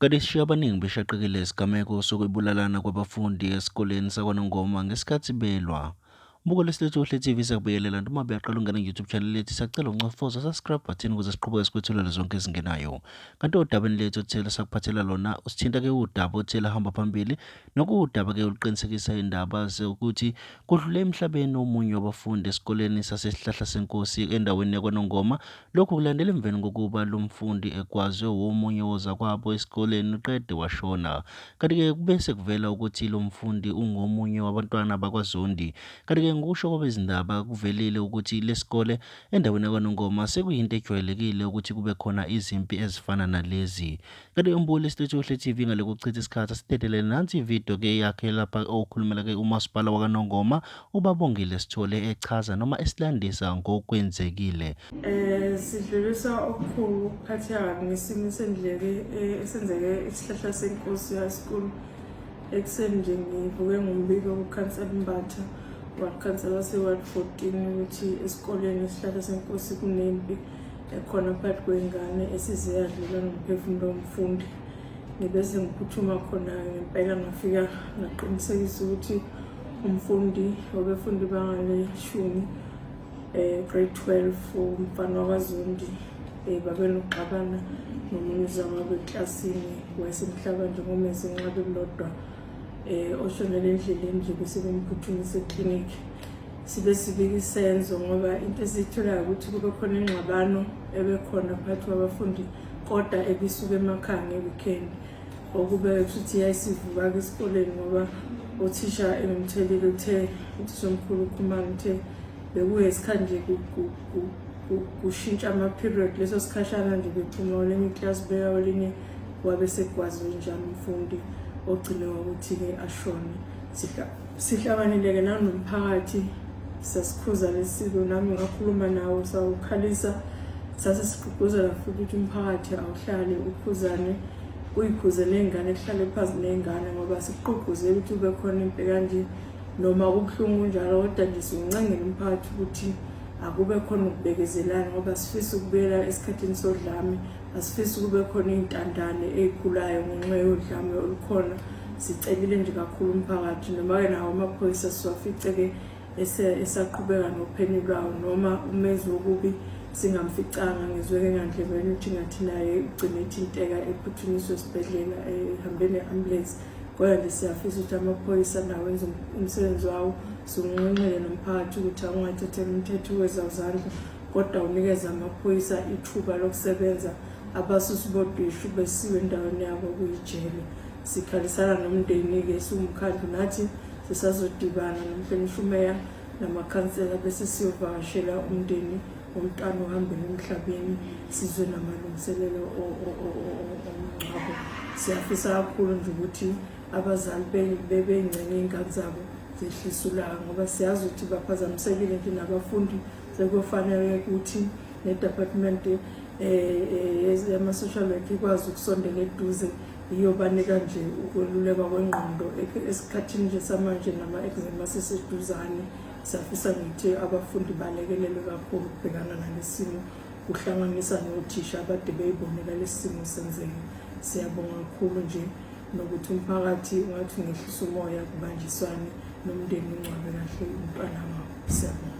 Kanti isishiye abaningi beshaqekile isigameko sokubulalana kwabafundi esikoleni sakwaNongoma ngesikhathi belwa. Buka lesilethu kuhle TV siyakubekelela nto uma beyaqala ungena YouTube channel lethu siyacela uncofoza subscribe button ukuze siqhubeke sikwethulele zonke ezingenayo. Kanti odabeni lethu othile sakuphathela lona usithinta ke udaba othile hamba phambili nokuwudaba ke oluqinisekisa indaba ukuthi kudlule emhlabeni omunye wabafundi esikoleni sasesihlahla senkosi endaweni yakwaNongoma Lokhu kulandela emveni kokuba lo mfundi egwazwe womunye wozakwabo esikoleni qede washona. Kanti-ke kube sekuvela ukuthi lo mfundi ungomunye wabantwana bakwaZondi. Kanti-ke ngokusho kwabezindaba kuvelile ukuthi lesikole endaweni yakwaNongoma sekuyinto ejwayelekile ukuthi kube khona izimpi ezifana nalezi. Kanti umbulo esitetshohle TV ngale kokuchitha isikhathi asidedelele nansi ividiyo ke yakhe lapha okhulumela ke umasipala wakanongoma ubabongile sithole echaza noma esilandisa ngokwenzekile eh sidlulisa okukhulu ukuphatheka kabi ngesimo sendleke eh, esenzeke isihlahla senkosi yasikulu ekuseni nje ngivuke ngombiko kukhansela mbatha wakhansela wase-ward 14 ukuthi esikoleni isihlahla senkosi kunempi ekhona phakathi kwengane esize yadlula nomphefumulo womfundi ngibe sengiphuthuma khona ngempela ngafika ngaqinisekisa ukuthi umfundi obefunda ibanga leshumi um grade twelve umfana wakazondi um babenokuxabana nomunye uzama beklasini wayesemhlaba nje ngomese nxa bekulodwa um oshonele endleleni nje bese bemphuthumise eklinikhi sibe sibika isenzo ngoba into esiyitholayo ukuthi kube khona ingxabano ebekhona phakathi kwabafundi kodwa ebisuke emakhaya nge-weekend okube futhi yayisivuka-ke esikoleni ngoba othisha engimthelile uthe uthisha omkhulu ukhumane uthe bekuye isikhathi nje kushintsha ama-period leso sikhashana nje bephuma olinye iklasi beya olinye wabe sekwazi njani umfundi ogcine ngokuthi-ke ashone Sihlanganile-ke nanomphakathi sasikhuza lesiko nami ngakhuluma nawo sawukhalisa sase sigqugquzela futhi ukuthi umphakathi awuhlale ukhuzane uyikhuze ney'ngane kuhlale phansi ney'ngane ngoba sikugqugquzela ukuthi ube khona impe kanje noma kubuhlungu kunjalo kodwa nje siwuncengela umphakathi ukuthi akube khona ukubekezelana ngoba sifisa ukubuyela esikhathini sodlame asifisi kube khona iy'ntandane ey'khulayo ngenxa yodlame olukhona sicelile nje kakhulu umphakathi noma-ke nawo amaphoyisa siwafice-ke esaqhubeka nophenyi lwawo noma umenzi wokubi singamficanga ngizweke ngandlebeni ukuthi ngathi naye ugcine ethinteka ephuthunyiswe esibhedlela ehambe ne-ambulance kodwa nje siyafisa ukuthi amaphoyisa nawo enze umsebenzi wawo siwunxenxele nomphakathi ukuthi akungathathela umthetho wezazandla kodwa unikeza amaphoyisa ithuba lokusebenza abasusi bodwishu besiwe endaweni yabo kuyijele sikhalisana nomndeni-ke siwumkhandlu nathi sisazodibana nomhlonishumea namakhansela bese siyovakashela umndeni womntwana ohambele emhlabeni sizwe namalungiselelo omngcwabo siyafisa kakhulu nje ukuthi abazali bebeyingxenye iy'ngane zabo zehlisa ulaka ngoba siyazi ukuthi baphazamisekile nje nabafundi sekufanele ukuthi nedepartment eh, eh, yama-social work ikwazi ukusondela eduze iyobanika nje ukwelulekwa kwengqondo esikhathini nje samanje nama-exam aseseduzane safisa ngithi abafundi balekelelwe kakhulu ukubhekana nalesimo kuhlanganisa nothisha abade beyibonela lesimo senzeka siyabonga kakhulu nje nokuthi umphakathi ungathi ungehlisa umoya kubanjiswane nomndeni ungcwabe kahle umntwana wabo siyabonga